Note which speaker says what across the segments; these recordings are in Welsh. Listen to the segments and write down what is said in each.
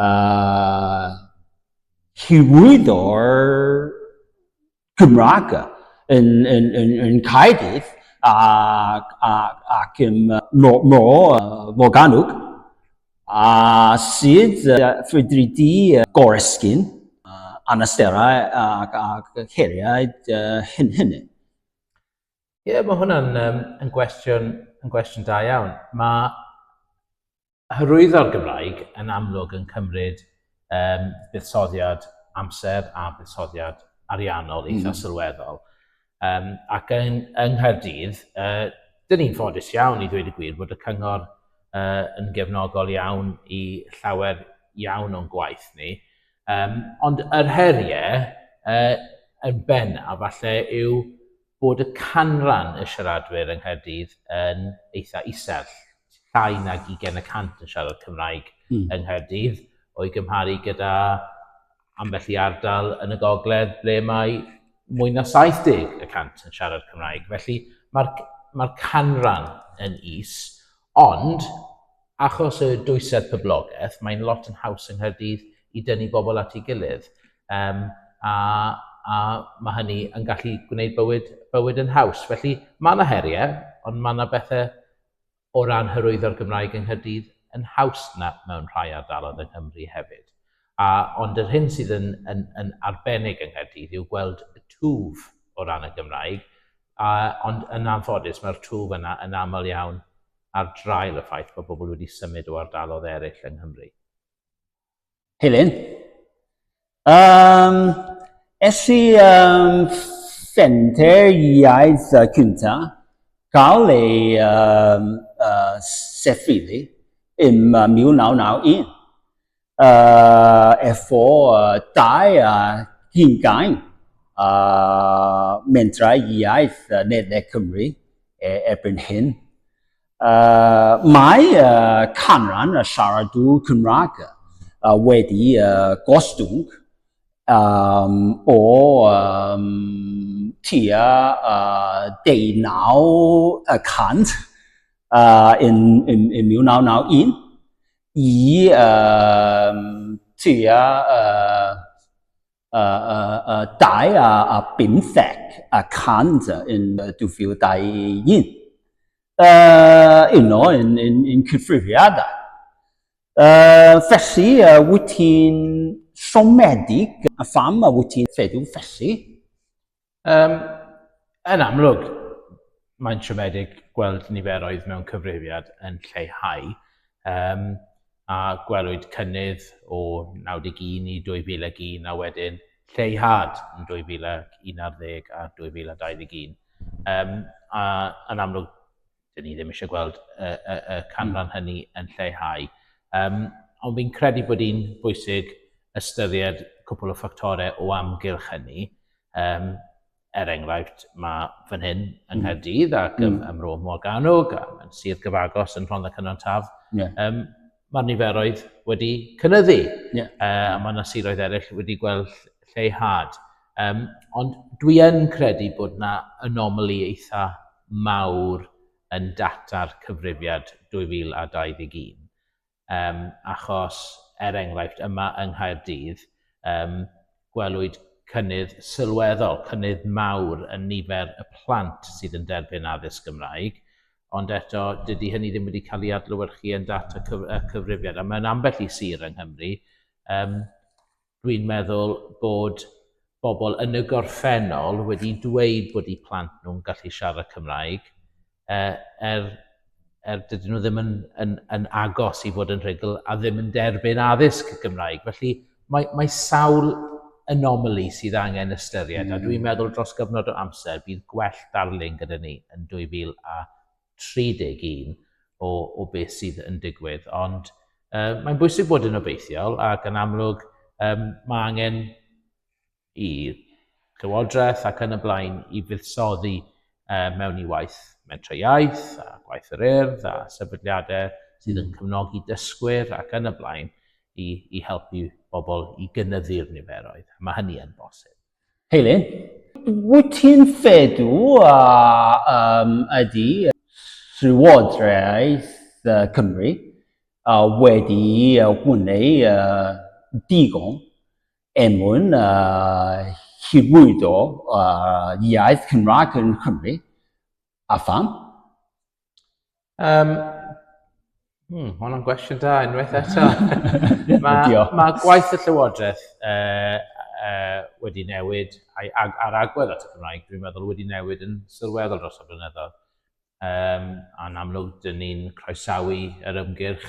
Speaker 1: uh, hyrwyddo'r Gymraeg yn, yn, yn, yn Caerdydd ac, ac, ac yn Mo, Mo Morganwg a sydd ffrydri di goresgyn anasterau ac, ac heriau hyn hynny. Ie,
Speaker 2: yeah, mae hwnna'n um, yn, gwestiwn, yn gwestiwn da iawn. Mae Hyrwyddo'r Gymraeg yn amlwg yn cymryd um, buddsoddiad amser a buddsoddiad ariannol eitha mm -hmm. sylweddol. Um, ac yng, yng Nghaerdydd, uh, dyn ni'n ffodus iawn i ddweud y gwir bod y cyngor uh, yn gefnogol iawn i llawer iawn o'n gwaith ni. Um, ond yr heriau uh, yn benna, falle yw bod y canran y siaradwyr yng Nghaerdydd yn eitha isel. Llai nag 20 y cant yn siarad Cymraeg mm. yng Nghaerdydd, o'i gymharu gyda ambell i ardal yn y gogledd ble mae mwy na 70 y cant yn siarad Cymraeg. Felly mae'r mae canran yn is, Ond, achos y dwysedd poblogaeth, mae'n lot yn haws yng Nghaerdydd i dynnu bobl at ei gilydd, um, a, a mae hynny yn gallu gwneud bywyd, bywyd yn haws. Felly, mae yna heriau, ond mae yna bethau o ran hyrwyddo'r Gymraeg yng Nghaerdydd yn haws na mewn rhai ardaloedd yng Nghymru hefyd. A, ond yr hyn sydd yn, yn, yn arbennig yng Nghaerdydd yw gweld y twf o ran y Gymraeg A, ond yn anffodus, mae'r twf yna yn aml iawn ar draul y ffaith bod pobl wedi symud o ardalodd eraill yng Nghymru.
Speaker 1: Helen, um, es i um, ffenter iaith uh, cynta, cael ei um, uh, sefydlu ym 1991. uh, efo uh, dau uh, hingain uh, mentrau iaith uh, Nedle Cymru e, erbyn hyn. Uh, mae uh, canran y siaradwr Cymraeg uh, wedi uh, gostwng um, o um, tua uh, 19 y cant uh, yn, yn, yn 1991 i um, tua uh, uh, uh, uh, 2 a, a 15 a 100 yn 2021. Uh, uno yn, yn, yn cyfrifiadau. Uh, felly, uh, wyt ti'n siomedig a pham a wyt ti'n feddwl felly? Um,
Speaker 2: yn amlwg, mae'n siomedig gweld niferoedd mewn cyfrifiad yn lleihau, um, a gwelwyd cynnydd o 91 i 2001 a wedyn lleihad yn 2011 a 2021. Um, a yn amlwg, dyn ni ddim eisiau gweld y, y, y canran hynny yn lleihau. Um, ond fi'n credu bod hi'n bwysig ystyried cwpl o ffactorau o amgylch hynny. Um, er enghraifft, mae fan hyn yng mm. Nghaerdydd ac mm. ym Mro Morgannwg, a mae'n sir gyfagos yn Rhondda Cynon Taf. Yeah. Um, Mae'r niferoedd wedi cynnyddu, yeah. uh, a mae yna siroedd eraill wedi gweld lleihad. Um, ond dwi yn credu bod yna anomali eitha mawr yn data'r cyfrifiad 2021. Um, achos, er enghraifft, yma yng Nghaerdydd, um, gwelwyd cynnydd sylweddol, cynnydd mawr yn nifer y plant sydd yn derbyn addysg Gymraeg, ond eto dydy hynny ddim wedi cael ei adlewyrchu yn data cyf y cyfrifiad. A mae'n ambell i sir yng Nghymru, um, dwi'n meddwl bod bobl yn y gorffennol wedi dweud bod eu plant nhw'n gallu siarad Cymraeg, uh, er, er dydyn nhw ddim yn, yn, yn agos i fod yn rhugl a ddim yn derbyn addysg Gymraeg. Felly, mae, mae sawl anomaly sydd angen ystyried, mm. a dwi'n hmm. meddwl dros gyfnod o amser bydd gwell darlun gyda ni yn 2031 o, o beth sydd yn digwydd. Ond uh, mae'n bwysig bod yn obeithiol ac yn amlwg um, mae angen i Lywodraeth ac yn y blaen i fuddsoddi mewn i waith Mentrau Iaith a gwaith yr Urdd a sefydliadau sydd yn cefnogi dysgwyr ac yn y blaen i, i helpu bobl i gynyddu'r niferoedd. Mae hynny yn bosib. Heili,
Speaker 1: wyt ti'n fedu a um, ydy Llywodraeth Cymru a wedi gwneud uh, digon Er mwyn hyrwyddo iaith Cymraeg yn Nghymru, a pham?
Speaker 2: Mae hwnna'n gwestiwn da, unwaith eto. Mae gwaith y Llywodraeth wedi newid, a'r agwedd at y Gymraeg, dwi'n meddwl, wedi newid yn sylweddol dros y blynyddoedd. Um, a'n amlwg, dyn ni'n croesawu yr ymgyrch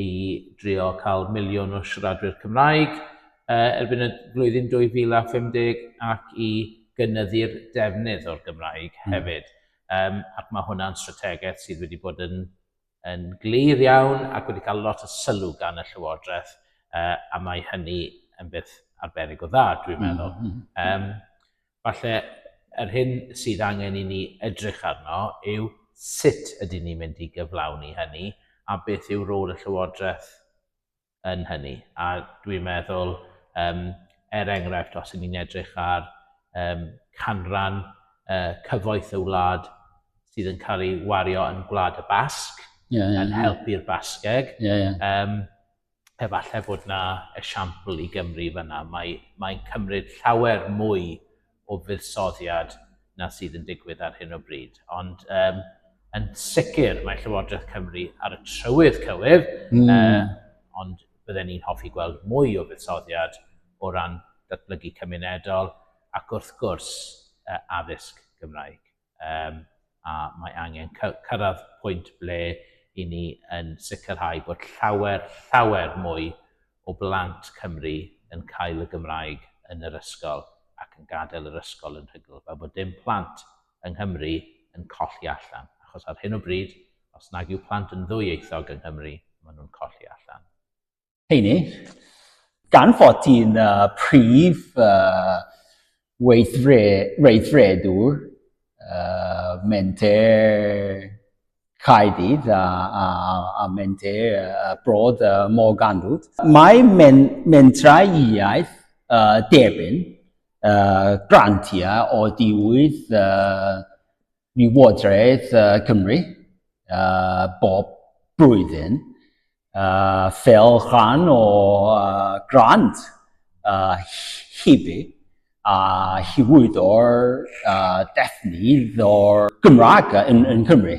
Speaker 2: i drio cael miliwn o siaradwyr Cymraeg uh, erbyn y flwyddyn 2050 ac i gynyddu'r defnydd o'r Gymraeg hmm. hefyd. Um, ac mae hwnna'n strategaeth sydd wedi bod yn, yn glir iawn ac wedi cael lot o sylw gan y Llywodraeth uh, a mae hynny yn beth arbennig o dda, dwi'n hmm, meddwl. Mm -hmm. um, Falle yr hyn sydd angen i ni edrych arno yw sut ydyn ni'n mynd i gyflawni hynny a beth yw rôl y Llywodraeth yn hynny. A dwi'n meddwl, um, er enghraifft, os ydyn ni'n edrych ar um, canran uh, cyfoeth y wlad sydd yn cael ei wario yn Gwlad y Basg, yeah, yeah, yn helpu'r Basgeg. Yeah, yeah. Um, efallai bod 'na esiampl i Gymru fan'na. Mae, mae'n cymryd llawer mwy o fuddsoddiad na sydd yn digwydd ar hyn o bryd. Ond um, yn sicr mae Llywodraeth Cymru ar y trywydd cywir, mm. uh, ond bydden ni'n hoffi gweld mwy o fuddsoddiad o ran datblygu cymunedol ac wrth gwrs uh, addysg Gymraeg. um, a mae angen cyrraedd pwynt ble i ni yn sicrhau bod llawer, llawer mwy o blant Cymru yn cael y Gymraeg yn yr ysgol ac yn gadael yr ysgol yn rhugl, fel bod dim plant yng Nghymru yn colli allan. Achos ar hyn o bryd, os nag yw plant yn ddwyieithog yng Nghymru, maen nhw'n colli allan. heini,
Speaker 1: gan fod ti'n uh, prif uh, weithredwr uh, menter Caerdydd a, a, a menter uh, Broad uh, Morgannwd. Mae men, mentrau iaith uh, derbyn uh, grantiau o diwydd uh, Llywodraeth Cymru uh, bob blwyddyn uh, fel rhan o uh, grant uh, hibi a hywyddo'r uh, defnydd o'r Gymraeg yn, yn Cymru.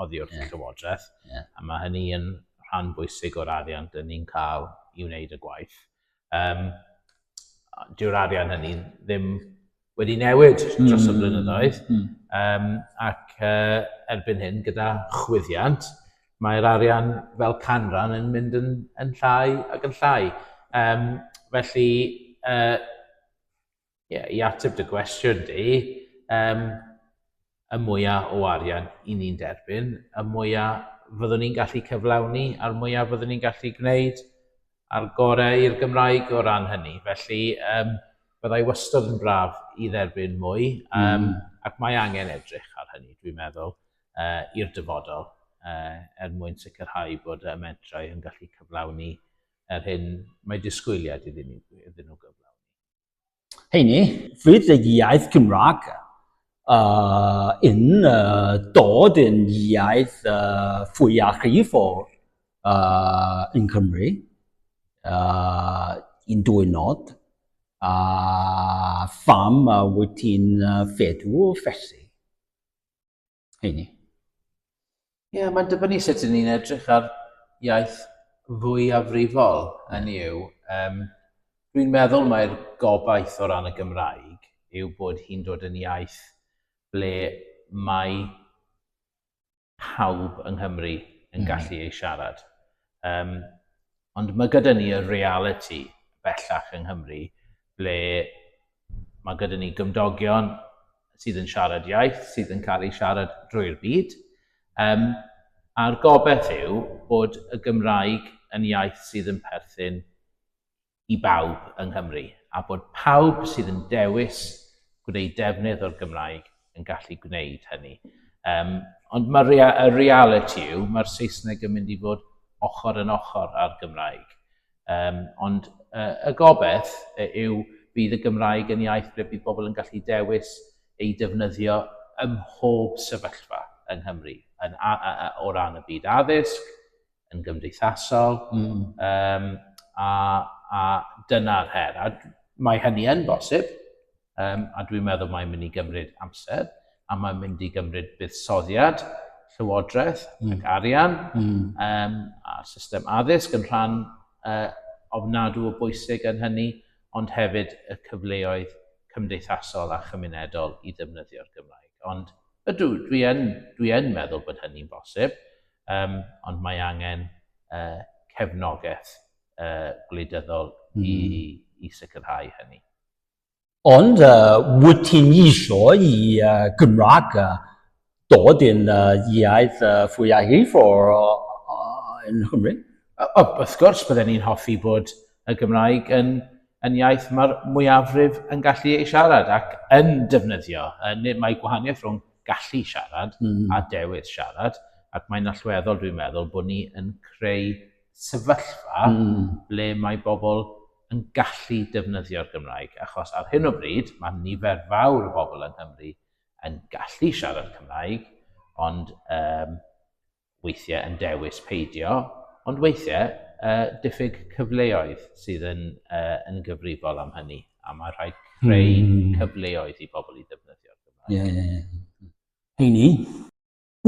Speaker 2: oddi wrth y Llywodraeth, a mae hynny yn rhan bwysig o'r arian dyn ni'n cael i wneud y gwaith. Um, Dyw'r arian hynny ddim wedi newid dros y hmm. blynyddoedd, um, ac uh, erbyn hyn gyda chwyddiant, mae'r arian fel canran yn mynd yn, yn llai ac yn llai. Um, felly, uh, ie, i ateb dy gwestiwn di, um, y mwyaf o arian i ni'n derbyn, y mwyaf fyddwn ni'n gallu cyflawni a'r mwyaf fyddwn ni'n gallu gwneud a'r gorau i'r Gymraeg o ran hynny. Felly, um, byddai wastod yn braf i dderbyn mwy, um, mm. ac mae angen edrych ar hynny, dwi'n meddwl, uh, i'r dyfodol, uh, er mwyn sicrhau bod y mentrau yn gallu cyflawni yr hyn mae disgwyliad iddyn nhw, iddyn nhw gyflawni. Heini,
Speaker 1: fydd y iaith Gymraeg uh, yn uh, dod yn iaith uh, fwyaf rhifol uh, yn Cymru uh, yn dwy nod a uh, pham uh, wyt ti'n uh, feddwl felly? heini?
Speaker 2: Ie, yeah, mae'n dibynnu sut ydyn ni'n edrych ar iaith fwyafrifol yn yw. Um, Dwi'n meddwl mae'r gobaith o ran y Gymraeg yw bod hi'n dod yn iaith ble mae pawb yng Nghymru yn hmm. gallu ei siarad. Um, Ond mae gyda ni y realiti bellach yng Nghymru ble mae gyda ni gymdogion sydd yn siarad iaith, sydd yn cael ei siarad drwy'r byd. Um, a'r gobeith yw bod y Gymraeg yn iaith sydd yn perthyn i bawb yng Nghymru a bod pawb sydd yn dewis gwneud defnydd o'r Gymraeg yn gallu gwneud hynny. Um, ond mae'r rea y reality yw, mae'r Saesneg yn mynd i fod ochr yn ochr â'r Gymraeg. Um, ond uh, y gobeith yw bydd y Gymraeg yn iaith ble bydd bobl yn gallu dewis ei defnyddio ym mhob sefyllfa yng Nghymru, yn, a, a, a, o ran y byd addysg, yn gymdeithasol, mm. um, a, a dyna'r her. A mae hynny yn bosib, um, a dwi'n meddwl mae'n mynd i gymryd amser, a mae'n mynd i gymryd buddsoddiad, llywodraeth mm. ac arian, mm. um, a system addysg yn rhan uh, ofnadw o bwysig yn hynny, ond hefyd y cyfleoedd cymdeithasol a chymunedol i ddefnyddio'r Gymraeg. Ond ydw, dwi yn, dwi yn meddwl bod hynny'n bosib. um, ond mae angen uh, cefnogaeth uh, gwleidyddol mm. i, hmm. i sicrhau hynny. Ond
Speaker 1: uh, wyt ti'n isio i uh, Gymraeg uh, dod yn uh, iaith uh, fwyaf hif o'r uh, yn Nghymru? O, wrth gwrs,
Speaker 2: byddwn ni'n hoffi bod y Gymraeg yn, yn iaith mae'r mwyafrif yn gallu ei siarad ac yn defnyddio. Yn, mae gwahaniaeth rhwng gallu siarad a dewis siarad, ac mae'n allweddol dwi'n meddwl bod ni yn creu sefyllfa ble mae bobl yn gallu defnyddio'r Gymraeg, achos ar hyn o bryd mae nifer fawr o bobl yng Nghymru yn gallu siarad Cymraeg, ond weithiau yn dewis peidio, ond weithiau uh, diffyg cyfleoedd sydd yn, uh, yn gyfrifol am hynny, a mae rhaid creu mm. cyfleoedd i bobl i ddefnyddio'r Gymraeg. Ie, ie, ie. Heini,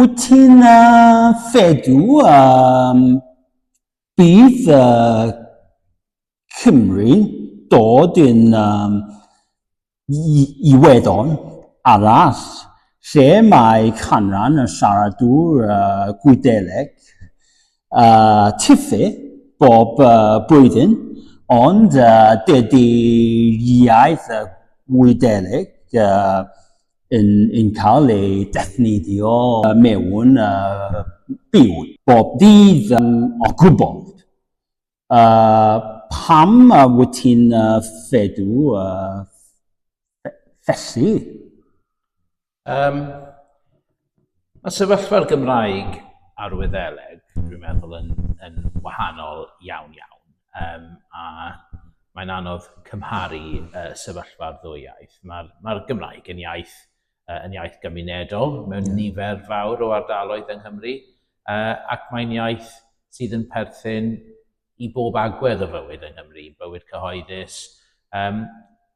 Speaker 1: wyt ti'n uh, fedu um, bydd uh, Cymru dod yn um, iweddon arall lle mae canran y siaradwr uh, Gwyddeleg uh, tifu bob uh, blwyddyn, ond uh, dydy iaith y Gwyddeleg uh, yn, yn cael ei defnyddio mewn uh, byw bob dydd um, o gwbl. Yy, pam wyt ti'n feddw felly? Yym,
Speaker 2: mae sefyllfa'r Gymraeg a'r Wyddeleg, dwi'n meddwl, yn yn wahanol iawn iawn, yym a mae'n anodd cymharu yy sefyllfa'r ddwy iaith. Ma'r ma'r Gymraeg yn iaith uh, yn iaith gymunedol mewn yeah. nifer fawr o ardaloedd yng Nghymru, uh, ac mae'n iaith sydd yn perthyn i bob agwedd o fywyd yng Nghymru, bywyd cyhoeddus. Um,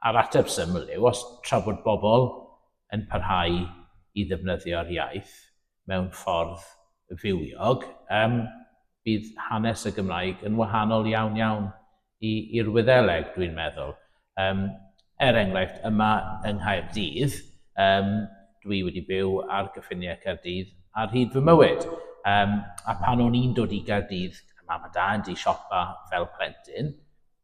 Speaker 2: a'r ateb syml yw, os tra bod bobl yn parhau i ddefnyddio'r iaith mewn ffordd fywiog, um, bydd hanes y Gymraeg yn wahanol iawn iawn i, i'r Wyddeleg, dwi'n meddwl. Um, er enghraifft, yma yng Nghaerdydd, um, dwi wedi byw ar gyffiniau Caerdydd ar hyd fy mywyd. Um, a pan o'n i'n dod i Gaerdydd, mam a dad i siopa fel plentyn,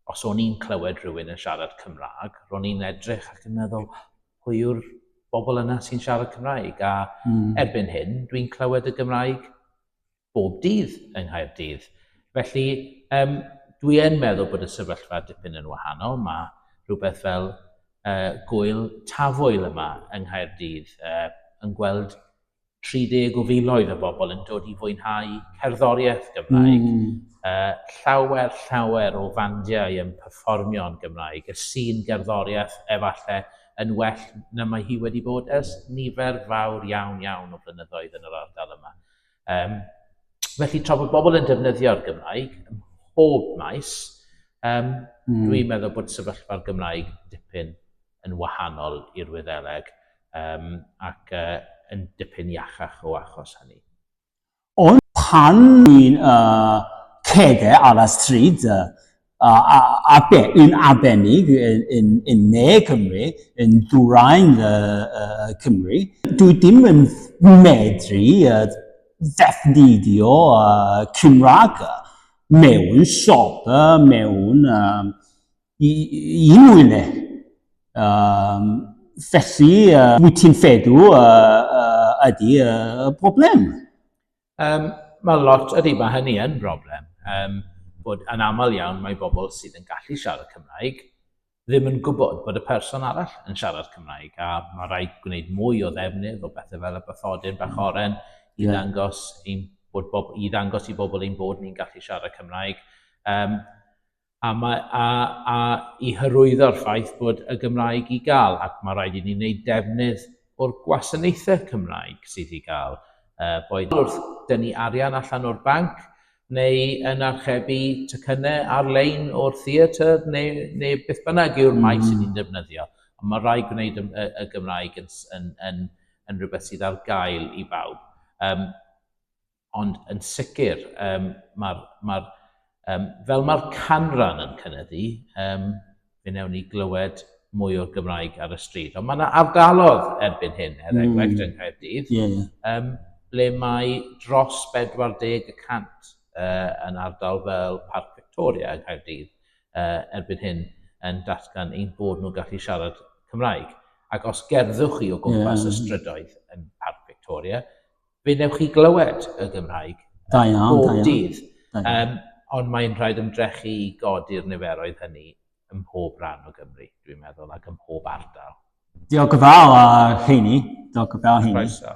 Speaker 2: os o'n i'n clywed rhywun yn siarad Cymraeg, ro'n i'n edrych ac yn meddwl, pwy yw'r bobl yna sy'n siarad Cymraeg? A mm. erbyn hyn, dwi'n clywed y Gymraeg bob dydd yng Nghaerdydd. Felly, um, dwi yn meddwl bod y sefyllfa dipyn yn wahanol. Mae rhywbeth fel uh, gwyl tafoel yma yng Nghaerdydd uh, yn gweld 30 o filoedd o bobl yn dod i fwynhau cerddoriaeth Gymraeg. Mm. Uh, llawer, llawer o fandiau yn performio yn Gymraeg. Y sy'n gerddoriaeth efallai yn well na mae hi wedi bod ers nifer fawr iawn iawn o flynyddoedd yn yr ardal yma. Um, felly, tra bod bobl yn defnyddio'r Gymraeg ym mhob maes, um, mm. dwi'n meddwl bod sefyllfa'r Gymraeg dipyn yn wahanol i'r Wyddeleg um, ac uh, yn dipyn iachach o achos hynny. Ond
Speaker 1: pan ni'n uh, cede ar y stryd, uh, A, a, a be, yn arbennig yn, yn, yn ne Cymru, yn dwrain y, y Cymru. Dwi ddim yn medru uh, ddefnyddio uh, Cymraeg mewn siop, mewn um, i, i unrhyw le. Um, felly, uh, wyt ti'n feddwl uh, uh, ydy y uh, broblem? Um,
Speaker 2: mae lot, ydy, mae hynny yn broblem. Um, bod yn aml iawn mae bobl sydd yn gallu siarad Cymraeg ddim yn gwybod bod y person arall yn siarad Cymraeg a mae rhaid gwneud mwy o ddefnydd o bethau fel y bathodyn bach oren i yeah. ddangos ein bod bob, i ddangos i bobl ein bod ni'n gallu siarad Cymraeg. Um, a mae a a i hyrwyddo'r ffaith bod y Gymraeg i gael ac mae rhaid i ni wneud defnydd o'r gwasanaethau Cymraeg sydd i gael uh, boed wrth dynnu arian allan o'r banc neu yn archebu tycynnau ar-lein o'r theatr neu, neu beth bynnag yw'r mm. maes ni'n defnyddio. Ond mae rhaid gwneud y, y, y Gymraeg yn, yn, yn, yn rhywbeth sydd ar gael i bawb. Um, Ond yn sicr, um, mae'r, mae um, fel mae'r canran yn cynyddu, um, fe newn ni glywed mwy o'r Gymraeg ar y stryd. Ond mae yna ardalodd erbyn hyn, er hmm. enghraifft mm. yng Nghaerdydd, yeah, yeah. Um, ble mae dros 40% uh, yn ardal fel Parc Victoria yng Nghaerdydd uh, erbyn hyn yn datgan ein bod nhw'n gallu siarad Cymraeg. Ac os gerddwch chi o gwmpas yeah. y strydoedd yn Parc Victoria, fe wnewch chi glywed y Gymraeg da iawn, bob da iawn. dydd. Da iawn. Um, ond mae'n rhaid ymdrechu i godi'r niferoedd hynny ym mhob rhan o Gymru, dwi'n meddwl, ac ym mhob
Speaker 1: ardal. Diolch yn
Speaker 2: fawr, uh,
Speaker 1: Heini.
Speaker 2: Diolch yn
Speaker 1: fawr, Heini.
Speaker 2: Croeso.